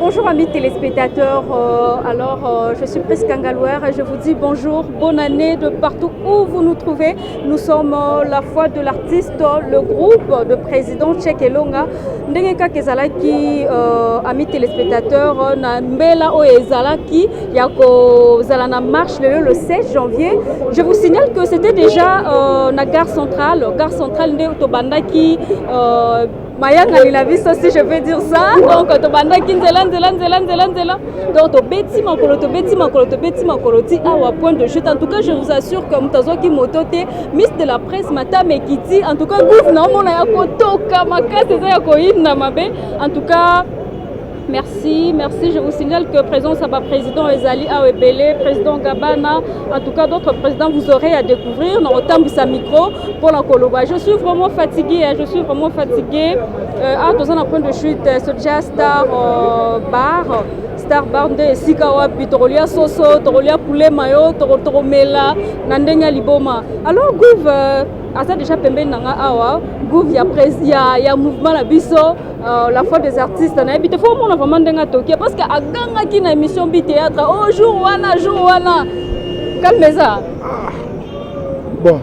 Bonjour amis téléspectateurs, euh, alors euh, je suis Prisca Ngalouer et je vous dis bonjour, bonne année de partout où vous nous trouvez. Nous sommes euh, la foi de l'artiste, le groupe de président Tchèque Longa. Ndenge kaka ezalaki euh, amis téléspectateurs na mbela oyo ezalaki ya kozala na marche lelo le 16 janvier je vous signale que c'était déjà euh, na gare centrale gare centrale nde tobandaki euh, mayangani na biso si je peux dire ça donc tobandaki nzela nzela nzela nzela nzela donc tobeti makolo tobeti makolo tobeti makolo ti awa point de chute en tout cas je vous assure que moto azwaki moto te miss de la presse matame ekiti en tout cas gouve naomona ya kotoka makasi eza ya koyinda mabe en tout cas Merci, merci. Je vous signale que président Saba, président Ezali Awebele, président Gabana, en tout cas d'autres présidents, vous aurez à découvrir. Nous retombe sa micro pour la Koloba. Je suis vraiment fatigué, hein, je suis vraiment fatigué. Euh, ah, dans un point de chute, euh, ce jazz star euh, bar. star bar nde esika wapi tokolia soso tokolia poulet mayo tokomela na ndenge ya liboma alors gouve euh, aza déjà pembeni na nga awa gouve ya, ya, ya mouvement na biso Uh, la foi des artistes nayebi te fo omona vraiment ndenge atokia parce que agangaki na émission bi théâtre o oh, jour wana jour wana calme eza ah. bon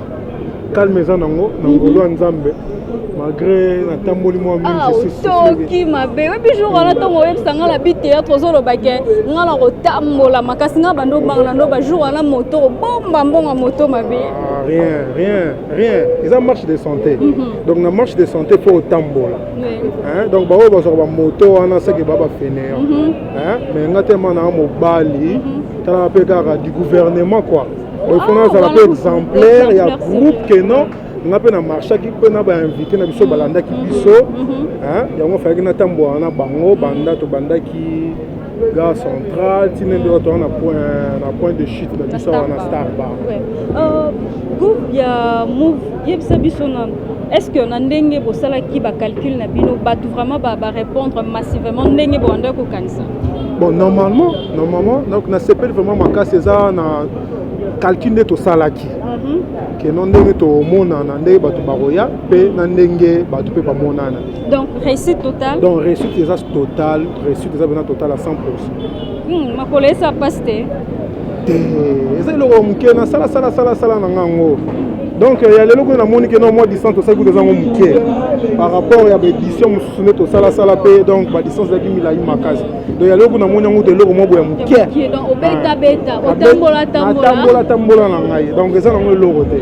calme eza nango na mhm. ngolu ya nzambe mm -hmm. malgré natamboli mwa mingisoki ah, mabe oyebi jour wana ntongo oyebisa ngai na bi théâtre ozoloba ke ngai na kotambola makasi ngai bando obanga na ndo bajour wana moto obomba mbongo moto mabe ah, rien rien rien eza marche de santé mm -hmm. donc na marche de santé mpo otambola oui. donc baoyo bazwaka bamoto wana seke ba bafeneyo mm -hmm. mais nga telema naa mobali mm -hmm. talaka mpe kaka du gouvernement quoi oifona ah, azala mpe exemplaire ya groupe que non nga mpe na marchaki mpe na bainvité na biso balandaki mhm. biso mhm. yango afalaki natambola na bango banda tobandaki gare centrale tinende oyo toza na point de chute na biso awa na star bar Gouv ya mouv yebisa biso na est ce que na ndenge bosalaki ba calcul na bino bato vraiment ba, ba répondre massivement ndenge boanda kokanisa bon normalement normalement donc nasepeli vraiment makasi eza na calcul nde tosalaki mhm. keno ndenge tomonana ndenge bato bakoya mpe na ndenge bato mpe bamonana donc réussite totale donc réussite eza totale réussite eza mpena totale à 100 pourcent hmm, makolo esa mpasi te te eza eloko ya moke nasala sala sala sala na nga yango donc ya lelo kuna namoni ke no mwa distance tosali kuta ezango moke par rapport ya baédition mosusu nde tosalasala mpe donc badistance ezalaki milai makasi donc ya lelo kuna namoni yango to eloko mwa boya moke natambola tambola na ngai donc eza nango eloko te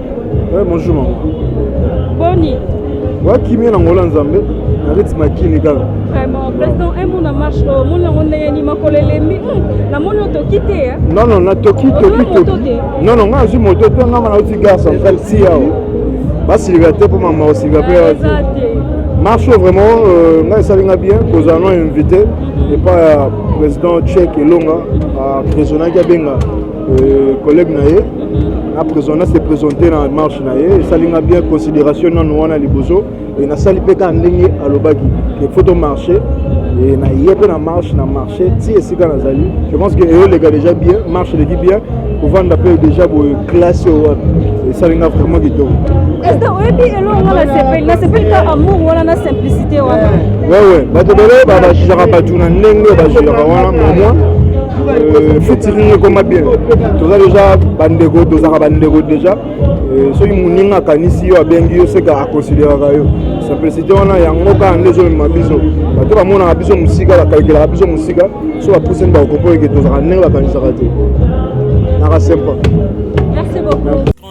Ouais, bonjour maman. Boni. Wa kimia na ngola nzambe na reti makini kaka. Vraiment, président un monde en marche au monde on ndenge ni makolo elembi. Na moni otoki te ya. Non non, na toki toki toki. Non non, nga zui moto te nga na uti gare centrale si yao. Basi liberte pour maman aussi va pas. Marche vraiment euh, nga esali nga bien kozala no invité mhm. et pas euh, président Tchèque Elonga a présonaki abenga Euh, collègue na ye na prison na se présente na marche na ye esali nga bien considération nano wana liboso e nasali mpe kaka ndenge alobaki ke faut tomarche e na ye mpe na marche na marche ti esika nazali je pense que eolega déjà bien marche eleki bien kovanda mpe déjà boye classe oyo wapi esali nga vraiment kitoko oyebi eloko nga nasepeli nasepeli ka amour wana na simplicité wana wewe bato bele bajijaka bato na ndenge bajijaka wana momoi fitiringi ekoma bien toza deja bandeko tozalaka bandeko deja eh, soki moninga akanisi yo abengi yo seka akonsideraka yo simplicité wana yango kaka nde ezomema biso bato bamonaka biso mosika bakalkelaka biso mosika so bapusani bakokopo eke tozalaka ndenge bakanisaka te naka sempa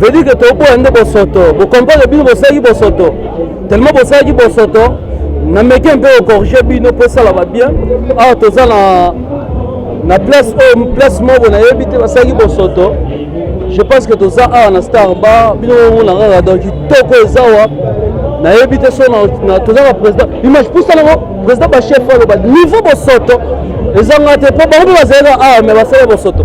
veut dire que toboya nde bosoto bocomprendre bino bosalaki bosoto tellement bosalaki bosoto nameki mpe ocorrige bino mpo esala babien awa toza na na place oyo oh, place moko nayebi te basalaki bosoto je pense que toza awa na star bar bino omona kaka donc kitoko eza wa nayebi te so toza na président image pusa nango président bachef aloba niveau bosoto ezanga te mpo bango mpe bazalaka awa me basala bosoto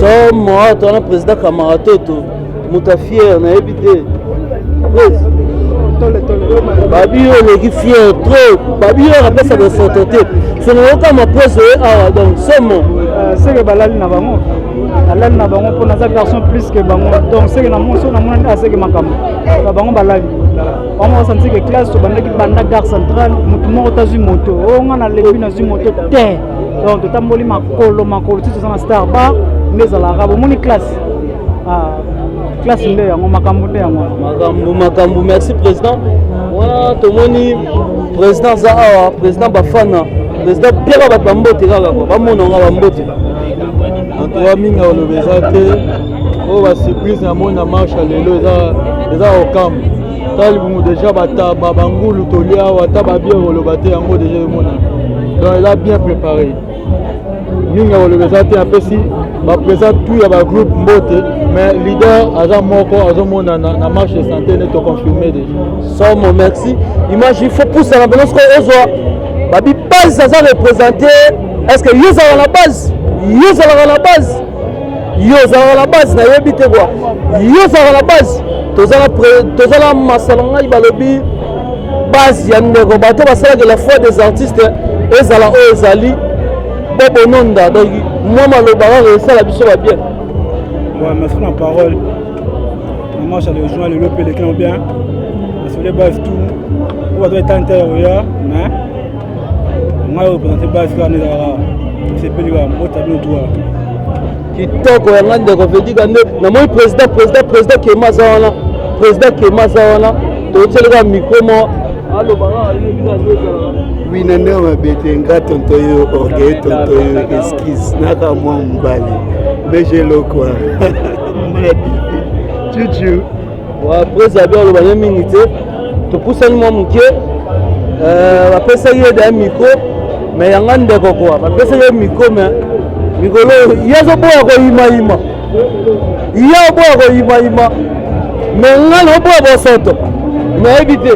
somo awa twana président kamaratoto moto ya fiere nayebi te babiyo oleki fiere trop babiyo akapesa bosoto te soki oyoka maprese oye awa donc somo euh, seke balali na bango alali na bango mpo naza garçon plus que bango donc seke na monso namona nde aseke makambo na bango balali bango basaniseke classe tobandaki banda gare centrale motu moko tazwi moto o oh, nga nalebi nazwi moto te donc totamboli makolo makolo ti toza na star bar nde ezalaka bomoni classe ah, classe nde yango makambo nde yango makambo makambo merci président wana tomoni président aza awa président bafana président piaka bato bambote kaka kua bamona nga bambote antoa mingi aloba eza te oyo oh, basurprise na mona marche lelo eza okambo tala libumu deja bataba bangulu tolia awa ata babie koloba te yango deja emona donc eza bien préparé mingi ya koloba eza te apesi bapresa tout ya bagroupe mbote mais leader aza moko azomonana na marche de santé ne toconfirme deja somo merci image il faut pusana mpena sikoyo ozwa babipasi aza représente est ce que yo ozalaka na base yo ozalaka na base yo ozalaka na base nayebi te kwa yo ozalaka na base toza na masano ngai balobi base ya ndeko bato basalaka la foi des artistes ezala oyo ezali bobononda donc mwa maloba kaka esala biso babien merci na parole mama charle join lelo mpe elekina bien nasole base tout oyo bato etante oya mais ngai opresente base kaka nde ezalaka sepeli kaka mobota bino tuwa kitoko ya ngai ndeko vedika nde namoni président président président kema aza wana président kema aza wana totyeli kaka mikro mo aloba kaka yebi kaka nde ezalaka wina nde mabe te nga tonto yo orgueil tonto yo esquise naka mwa mobali mais je lokwa maladi cucu Preza bia aloba ne mingi te, topusani mwa moke, euh, bapesaki ye da micro me yanga ndeko kwa bapesaki ye micro me mikolo ye azoboya koyimayima ye oboya koyimayima me nga naoboya bosoto nayebi te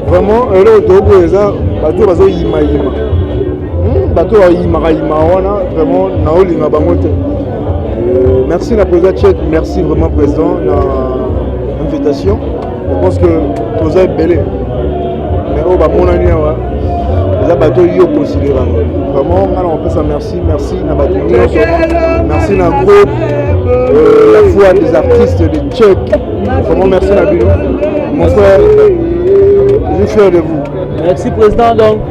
vraiment eloko tokoboya eza bato oyo bazoyimayima hmm, bato oyo bayimakayima wana vraiment naolinga bango te Euh, merci na président Tchèque, merci vraiment président na invitation. Je pense que toza ebele mais oyo bamonani awa eza bato yo considera vraiment nga na kopesa merci merci na bato nyonso merci na groupe euh, la foi des artistes de tchèque vraiment merci na bino mon frère je suis fier de vous merci président donc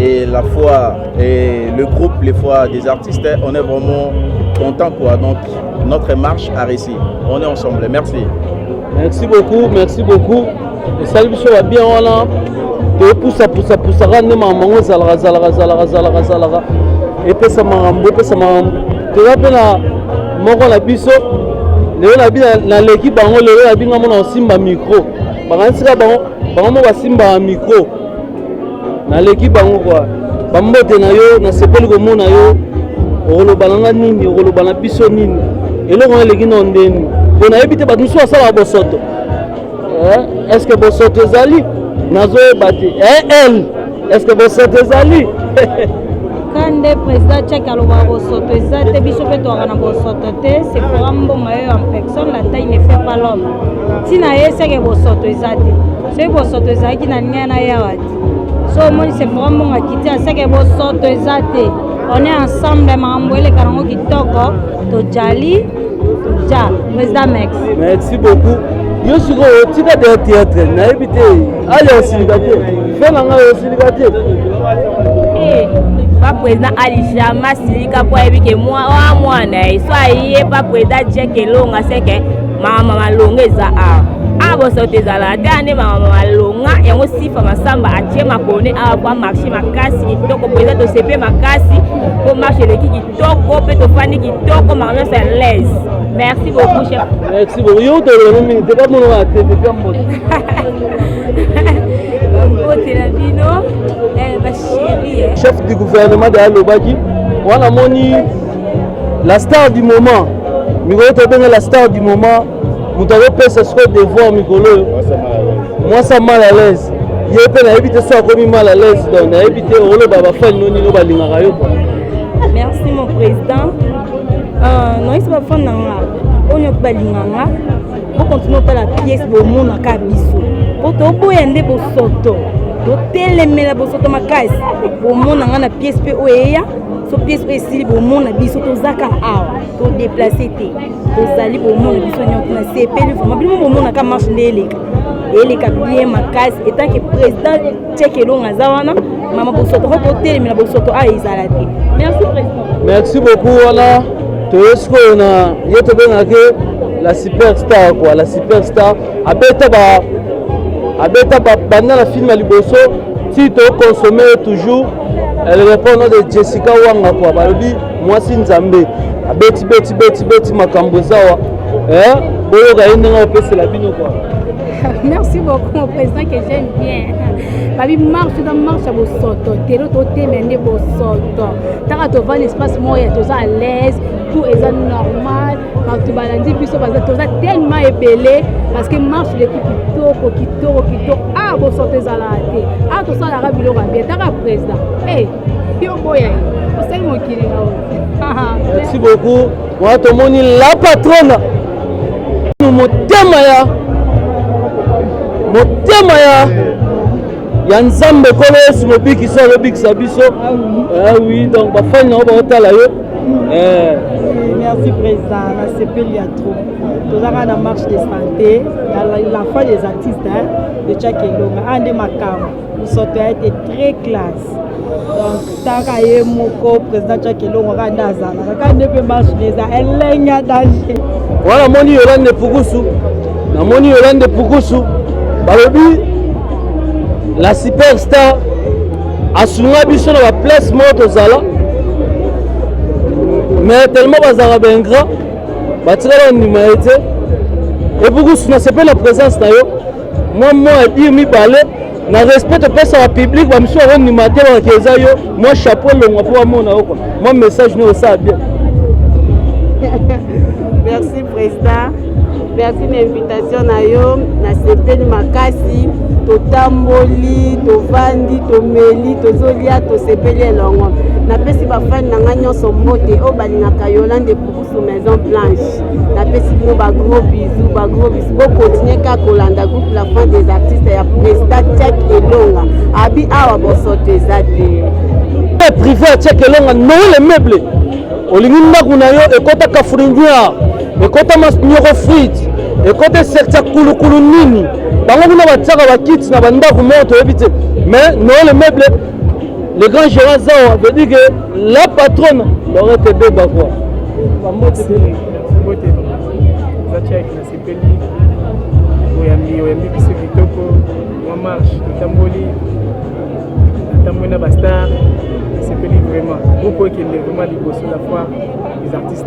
et la foi et le groupe les fois des artistes on est vraiment content quoi donc notre marche a réussi on est ensemble merci merci beaucoup merci beaucoup esali biso ya bien wana topusapusapusaka nde makambo yango ezalaka zalaka zalaka zalaka zalaka epesa makambo epesa makambo toza mpe na moko na biso lelo nabi naleki bango lelo nabi ngamona osimba micro bakanisi ka bango bango mo basimbaka micro naleki bango kwa bambote na yo nasepeli komona yo okoloba na nga nini okoloba na biso nini eloko na eleki na ondeni mpo nayebi te bato mosusu basalaka bosoto eh, est ce que bosoto ezali nazoyeba te eh, el est ce que bosoto ezali ata nde président tchak alobaka bosoto eza te biso mpe towaka na bosoto te sephora mboma yo en personne la taille ne fait pas l'homme ntina ye seke bosoto eza te soki bosoto ezalaki na linga na yawa te so omoni sefora mbongo akiti aseke bosoto eza te on est ensemble makambo eleka nango kitoko tojali toja président mex merci beaucoup yo sikoyo tika de théâtre nayebi te ali osilika te fe na ngai osilika te pa président ali jamais asilika mpo ayebi ke mwa mwana ye so aye pa président jeke elonga seke mama malonga eza awa awa bosoto ezala ata nde mama malonga yango sifa masamba atie makone awa kwa marché makasi kitoko mpenza tosepe makasi mpo marche eleki kitoko mpe tofandi kitoko mama nyonso ya laise merci beaucoup chef merci beaucoup yo tolelo mingi te bamonaka te te mbote mbote na bino eh, basheri eh. chef du gouvernement de alobaki wana moni la star du moment mikolo tobenga la star du moment moto azopesa sikoyo devoir mikolo oyo mwasi a mal à l'aise ye mpe nayebi te so akomi mal à l'aise donc nayebi te oloba bafani no nino balingaka yo kua merci mon président euh, noyesi bafani na nga oyo nyoki balinga nga bokontinue otala piese bomonaka biso mpo toboya nde bosoto totelemela bosoto makasi bomona nga na piese mpe oyo eya so pièce oyo esili bomona biso toza kaka awa to déplace te tozali bomona biso nyonso na sepeli vraimen bino bomonaka marche nde eleka eleka bien makasi etanke président tcheke elonga aza wana mama bosoto ko kotelemela bosoto awa ezala te merci président merci beaucoup wana toye sikoyo na ye tobengaki la superstar quoi la superstar abeta ba abeta banda na filme ya liboso ti toconsomme toujours Elle répond au nom de Jessica Wanga quoi balobi mwasi nzambe abeti beti beti beti makambo eza wa eh boyoka ye ndenge opesela bino quoi merci beaucoup mon président que j'aime bien babi marche eza marche ya bosoto telo totemela nde bosoto ntaka tovanda espace moya toza à l'aise tout eza normal bato balandi biso toza tellement ebele parce que marche eleki kitoko kitoko kitoko a ah, bosoto ezalaka te a ah, tosalaka biloko ya bien taka président e eh, yo boya ye osali mokili na oyo merci beaucoup wana tomoni la patrona motema ya motema ya ya nzambe kolo yesu mobikisi alobikisa biso awi ah eh donc bafani na yo baotala yo Eh. merci président nasepeli ya trop tozalaka na marche de santé la foi des artistes hein, de chak elonga aa ah, nde makambo mosoto ya ete très classe donc taka ye moko président chak elongo kaka nde azalaka kaka nde mpe marche neza elenge ya danger wana moni yolande pukusu namoni yolande pukusu balobi la superstar asunga biso na ba place moko tozala mais tellement bazalaka baingra batikala bandima ye te epukusu nasepe na présence na yo mwa mwa ya dire mibale na respect topesaka public bamisusu bakondima te bakaki eza yo mwa chapeau elongwa mpo bamona yo kua mwa message nio osala bien merci président Merci na invitation na yo, nasepeli makasi. Totamboli, tovandi, tomeli, tozolia, tosepeli elongo. Napesi bafani na ngai nyonso mbote oyo balingaka Yolande Pukusu Maison Blanche. Napesi bino ba gros bisous, ba gros bisous. Bokontinue kaka kolanda groupe La Fin des Artistes ya Presta Tchek Elonga. Abi awa bosoto eza te. Privé ya Tchek Elonga, Noël Meuble. Olingi ndako na yo ekota Kafurindia. ekota masnyoko frite ekota esekta kulukulu nini bango kuna batiaka bakiti na bandako moko toyebi te mais noele meuble le grand gérant zawa veut dire que la patronne lorete beba quoi oyambi oyambi biso kitoko mwa marche totamboli natamboli na bastar esepeli vraiment groupe oyo ekende vraiment liboso la fois les artistes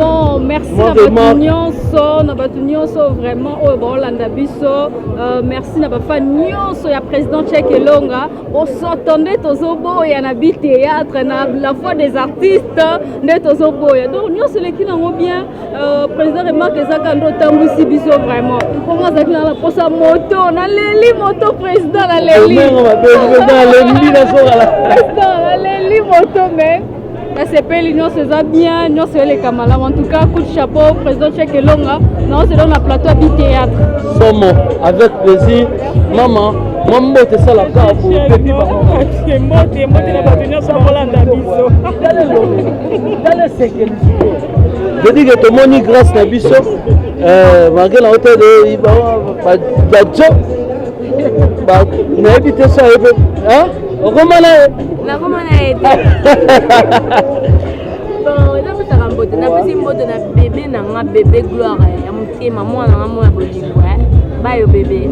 bon merci na bato nyonso na bato nyonso vraiment oyo baolanda biso euh, merci na bafan nyonso ya président chek elonga bosoto nde tozoboya na bi théâtre na la foi des artistes nde tozoboya donc nyonso eleki nango bien euh, président remarque ezaka nde otambwisi biso vraiment mpongo azalaki na naposa moto naleli moto président naleli naleli moto mais nasepeli nyonso eza bien nyonso eleka malamu en tout cas coup de chapeau président chek elonga naozelao na plateau ya bitheatre somo avec plaisir mama mwa mbote esalaka bopepi mbote mbote na bato nyonso bakolanda biso tala esekeli vedike tomoni grâce na biso euh, malgré na hôtel bajo nayebi te so ayebi okoma na ye nakoma na ye te bon napesaka mbote napesi mbote na bebe na nga bebe gloire ya motema mwana nga mwana bolingo bayo bebe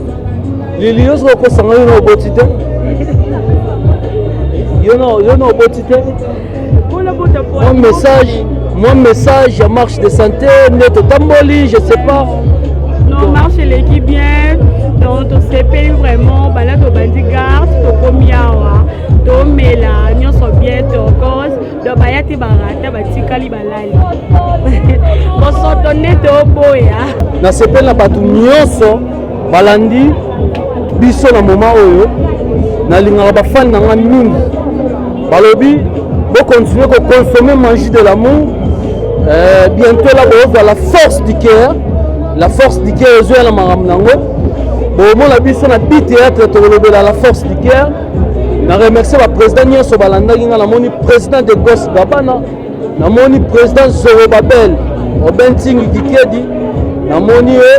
lili yo soki okosanga yo na oboti te yo na oboti te mwa message mwa message ya marche de santé nde totamboli je sais pas non marche eleki bien donc tosepeli vraiment banda tobandi garde tokomi awa tomela nyonso bien tokos donc baya te barata batikali balali bosoto nde toboya nasepeli na bato nyonso balandi biso na moma oyo nalingaka bafani na nga mingi balobi bokontinue kokonsome magie de l'amour euh, bientôt la bokozwa la force du cœur la force du cœur ezoya na makambo nango bomona biso na bi théâtre tokolobela la force du cœur na remercie baprésident nyonso balandaki ngai namoni président de gos gabana namoni president zorobabel obentingi kikedi namoni ye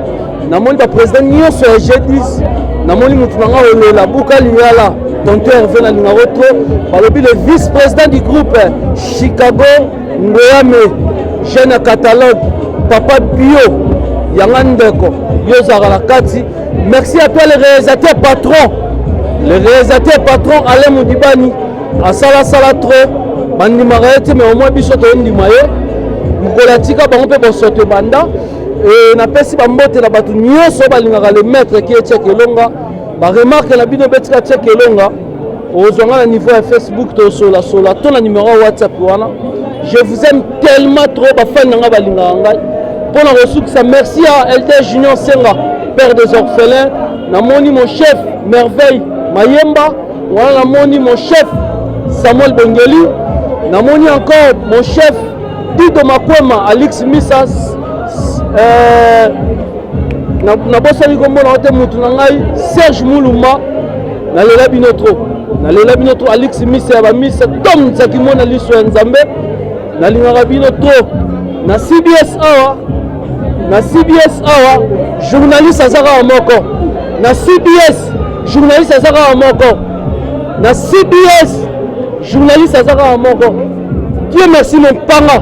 namoni bapresident nyonso ya g10 namoni motu na ngai olola buka lingala tonto herve na lingako tro balobi le vice président du groupe chicago ngoyame jeune ya catalogue papa bio yanga ndeko yo ozalaka na kati merci à toi le réalisateur patron le réalisateur patron alain modibani asala sala trop bandimaka ye te mais omoi biso tondima ye mokolo atika bango mpe bosoto ebanda e, napesi bambote na bato nyonso balingaka le maître ki etieke elonga baremarke na bino betika tieke elonga ozwa nga na niveau ya facebook tosolasola to na numero ya whatsapp wana je vous aime tellement trop bafani na ngai balingaka ngai mpo na kosukisa merci ya ld junior senga père des orphelins namoni mon chef merveille mayemba Wana namoni mon chef Samuel Bengeli, namoni encore mon chef Dido Makwema, Alix Misas, euh, nabosani kombo na te mutu na ngai Serge Muluma, nalela bino trop, nalela bino trop, Alix Misa ya ba Misa, Tom Nzakimona liso ya Nzambe, nalingaka bino trop na CBS awa na CBS awa journaliste aza kaka moko na CBS journaliste aza kaka moko na cbs journaliste aza kaka moko dieu merci mompanga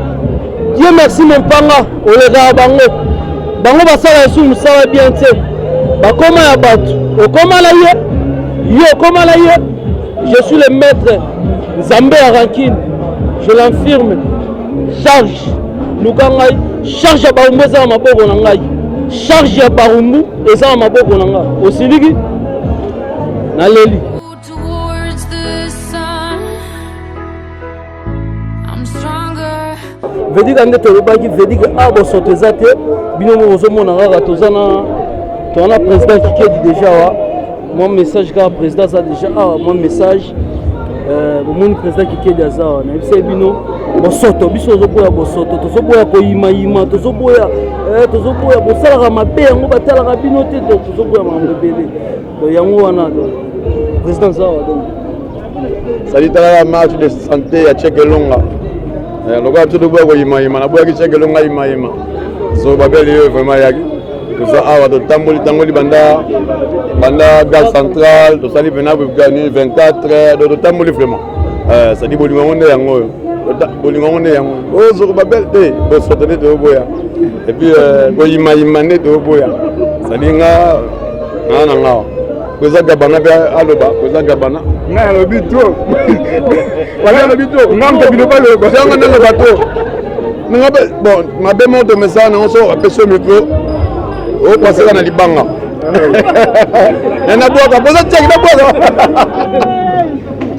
dieu merci mompanga olekaka bango bango basala esu mosala bien te bakoma ya bato okoma na ye yo okoma na ye je suis le maître nzambe ya rankine je l'infirme charge luka ngai charge ya barumbu eza na maboko na ngai charge ya barumbu Eza na maboko na nga. Osiliki? Naleli. vedika nde tolobaki vedika a ah, bosoto eza te bino moko ozomona kaka toza na toza na président kikedi déjà wa Mon message car président ça déjà ah mon message euh, bomoni président kikedi aza wana yebisa ye bino bosoto biso tozoboya bosoto tozoboya koyimayima tozoboya eh, tozoboya bosalaka mabe yango batalaka bino te donc tozoboya makambo ebele donc yango wana donc président aza awa donc sali talaka match de santé ya cheke elonga eh, lokola biso toboya koyimayima naboyaki cheke elonga yimayima so babeli yo vraiment yaki toza awa totamboli tangoli banda banda gare centrale tosali vena 24 do totamboli vraiment eh, sadi bolingo yango nde yango oyo bolingo yango nde yango ozoko babele te bosoto nde toyoboya epuis eh, koyimayima nde toyoboya sadi nga naa na ngawa Kweza Gabana pe aloba Kweza Gabana. Nga alobi trop. Wala alobi trop. Nga mpe bino baloba. Yanga nanga bato. Nanga be bon mabe mo to mesa na so apesi micro. O pasela na libanga. Na na bwaka, boza tchaki na bwaka.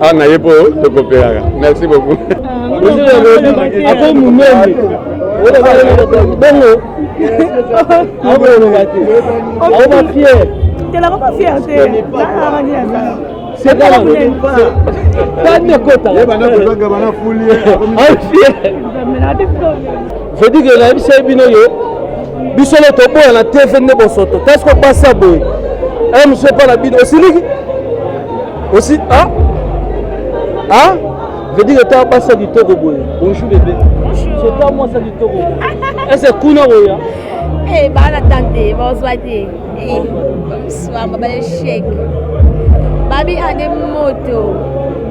awa na ye mpo tokopelaka merci beaucoup ako munene bongo akoloba te akoba fiere telakoba fiere te sekaaekota Je dis que nayebisaki bino yo biso le toboya na TV nde bosoto tasi kopasa boye eh, mc mpa na bino osiliki osi ah? Ah? Je dis que ta basa kitoko boye bonjour bebe c'est ta mwasa kitoko boye ese kuna boya eh, bana tante bazwa te swamba ba échec babi ane moto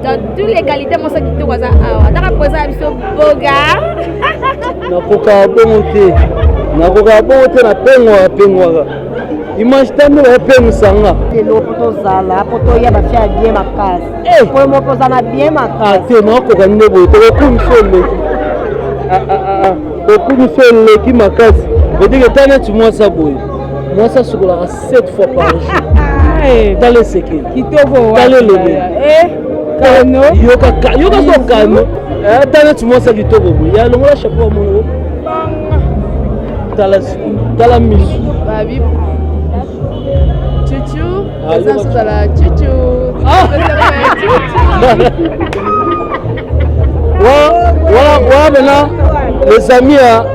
dans tous les qualités mosa kitoko aza awa ataka poza ya biso boga nakokaka bongo te nakokaka bongo te napengwaka pengwaka image ta nde bapengwisa nga lelo po tozala po toya bafia ya bien makasi eh! po moko oza na bien makasi ah, te nakokoka nde boye tokokumisa oleki ah, ah, okumisa oleki makasi vedike ta neti mwasa boye mwasi asukolaka 7 fois par jour eh. tala esekeli kitoko tala elobeli eh, kano yoka yoka so kano eh, ata neti mwasi ya kitoko boye ya longola chapeau ya mono tala tala misu wana mena les amis ya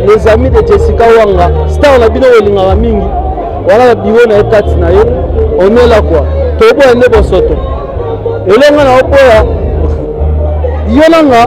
les amis de jessica wanga star na bino olingaka mingi wana na biro na ye kati na ye omela kwa toboya nde bosoto elonga na oboya yo nanga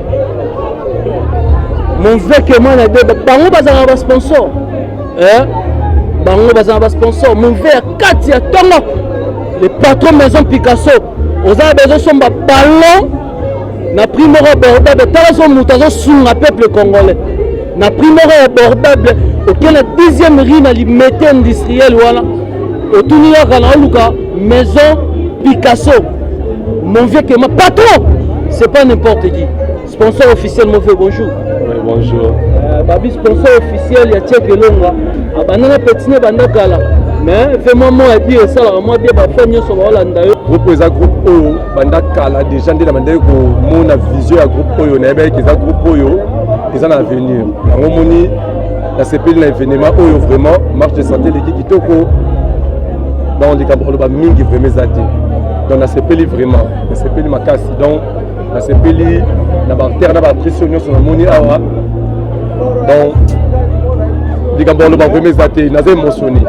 mon vrai kema na beba bango bazalaka basponsor eh? bango bazalaka basponsor mon vrai ya kati ya ntongo le patron maison picasso oza na bezo somba ballon na prix moko abordable tala so moto azosunga peuple congolais na prix moko abordable okenda dixième rue na limete industriel wana otuni kaka na oluka Maison Picasso, mon vieux Kema, patron, c'est pas n'importe qui. Sponsor officiel, mon vieux, bonjour. Oui, bonjour. Euh, babi, sponsor officiel, ya Tchèque Longa. Abandana ah, petine banda kala. Mais vraiment, moi, et puis, ça, là, moi, bien, ma femme, sur la landa. Groupe, eza groupe oyo, banda kala, déjà, nde na banda ko mona vision ya groupe oyo, na yebaki eza groupe oyo, eza na avenir. Yango moni nasepeli na evenema oyo vraiment marche de santé eleki kitoko donc likambo koloba mingi vraiment eza te donc nasepeli vraiment nasepeli makasi donc nasepeli na baartere na baartiste oyo nyonso namoni awa donc likambo koloba vraiment eza te naza émotionné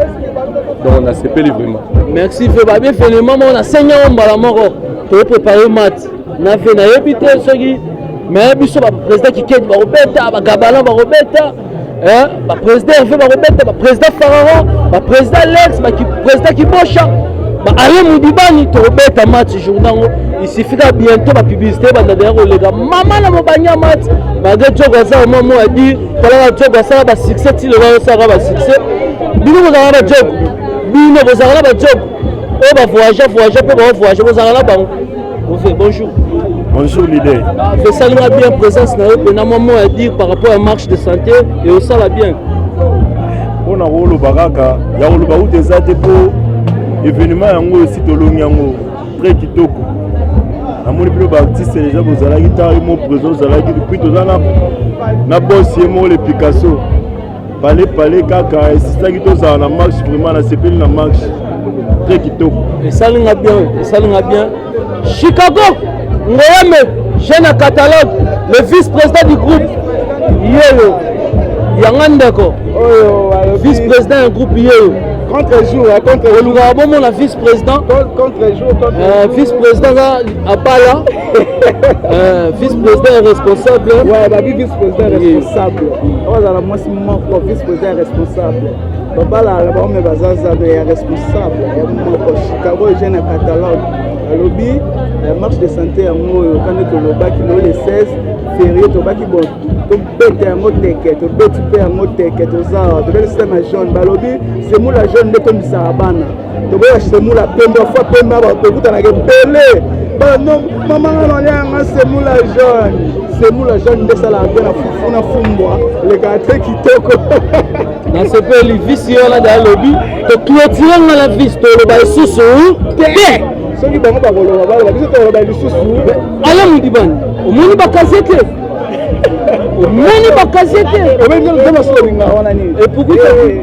donc nasepeli vraiment merci fe babi evenema moko nasengi yango mbala moko tokoprépare mate na fe nayebi te soki mais biso ba président kikedi bakobeta ba gabalan bakobeta ba président herve bakobeta ba président farara ba président lex ba président kibosha ba aye mudibani tokobeta match jour nango isifika bientôt ba publicité ebanda deya koleka mama na mobanya match malgré jogo aza omwa mo adi talaka jogo asala ba succès ti lelo osalaka ba succès bino bozalaka ba jogo bino bozalaka na ba jogo oyo bavoyage voyage mpe baovoyage bozala na bango Ove, bonjour. Bonjour leader. Esali nga bien présence na yo pena mwa mot à dire par rapport à marche de santé et osala bien. Mpo na koloba kaka ya koloba uta eza te mpo événement yango esi tolongi yango très kitoko namoni bino baartiste deja bozalaki ntango mo présent ozalaki depuis toza na boss ye moko le picasso pale pale kaka esisaki tozala na marche vraiment nasepeli na marche très kitoko esali nga bien esali nga bien chicago ngoyame jeune catalogue le vice président du groupe yeyo yanga ndeko vice président ya groupe yeyo contre jour contre olukaka bomona vice président contre jour contre euh, vice président Abala, euh, vice-président responsable. Ouais, bah, vice-président responsable. On va dans la moitié moko, vice-président responsable. Babala, là-bas, on met Bazaza, mais responsable. Il y a moko, Chicago, j'ai un catalogue. Alobi, la marche de santé en haut, quand on est au Loba, qui le 16 février, au Loba, qui bon. tobeta yango teke tobeti mpe yango teke toza awa tobeli sema jaune balobi semula jaune nde tomisaka bana toboya semula pembe afwa pembe bakokutanaka ebele bano mama nga nalianga semula jaune semula jaune nde esalaka mpe na fufu na fumbwa lekaka te kitoko nasepeli visi yo na daya lobi toclotire nga na visi toloba lisusu te soki bango bakoloba baloba biso toloba lisusu ala modibani omoni bakaze te omoni bakaze te obengi nzambe asolinga wana nini epukuta eh,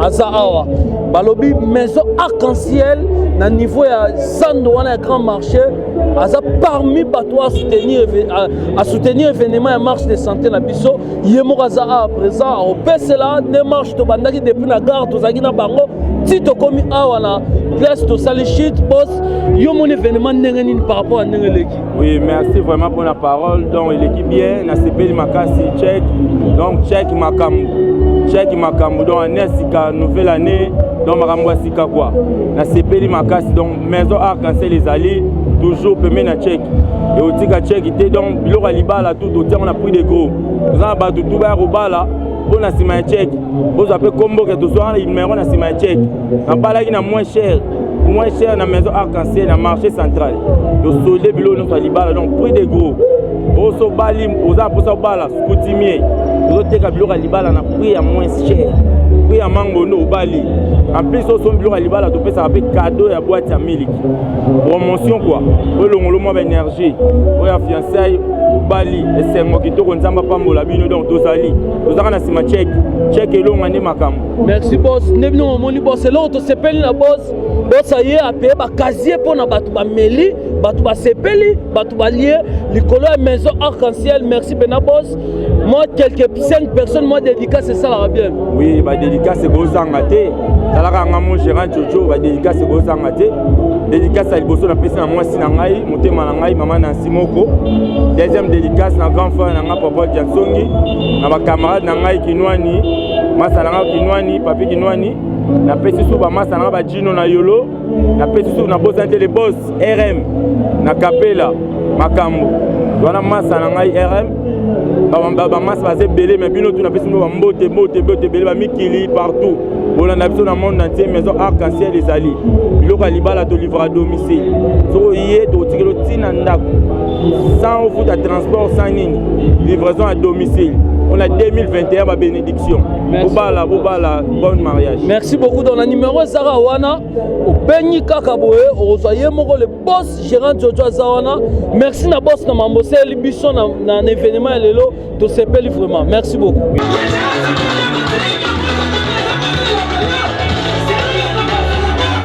aza awa balobi maison arc-en-ciel na niveau ya zando wana ya grand marché aza parmi bato asoutenir événement ya marche de santé na biso ye moko aza awa présent akopesela nde marche tobandaki depuis na gare tozalaki na bango ti tokomi awa na place tosali shit bos yo moni événement ndenge nini par rapport ya ndenge eleki Oui, merci vraiment pour la parole. Donc, il est bien, na sepeli makasi check. Donc, check makambu. Check makambu. Donc, année sika nouvelle année. Donc, makambu sika quoi. Na sepeli makasi. Donc, maison arc-en-ciel les alliés toujours pembe na check et otika check te donc biloko ya libala tout otiango na prix de gros toza na bato tu baya kobala mpo na nsima ya check bozwa mpe komboke tozwa numero na nsima ya check nabalaki na moins cher moins cher na maison arc-en-ciel na marché central tosolde biloko nyonso ya libala donc prix de gros oso obali oza mposa obala coutumier ozoteka biloko ya libala na prix ya moins cher prix ya mango nde obali en plus osombi biloko ya libala topesaka mpe cadeau ya boite ya miliki promotion kua olongolo mwa baénergie oyo ya fiançaille obali esengo kitoko nzambe apambola bino donc tozali tozalaka na nsima cheke cheke elonga nde makambo merci bos nde bino momoni bos eloko tosepeli na bos bos aye apeye bakazie mpo na bato bameli bato basepeli bato balie likolo ya maison arc en ciel merci mpena bos moi quelque 5 personnes moi dédicace esalaka bien oui badédicace ekozanga te talaka yanga mo gérant jojo badédicace ekozanga te dédicace ya liboso napesi na mwasi na ngai motema na ngai mama nansi moko deuxième dédicace na grand frère na ngai papa jansongi na bacamarade na ngai kinwani masa na nga kinwani papi kinwani napesi su bamasa na nga bajino na yolo napesi su nabosani te le bos rm na kapela makambo wana masa na ngai rm bamasa baza ebele me bino tu napesi bino bambote bote bote ebele bamikili partout bolanda biso na monde entier maison arc en ciel ezali biloko ya libala tolivra domicile soki oye tokotikelo ntina ndako sans ofuta transport sans nini livraison à domicile on a 2021 ba bénédiction bobala bobala bon mariage merci beaucoup dans la numéro ezaka wana obengi kaka boye okozwa ye moko le boss gérant jojo aza wana merci na boss na mambo oseli biso na, na, na événement ya lelo tosepeli vraiment merci beaucoup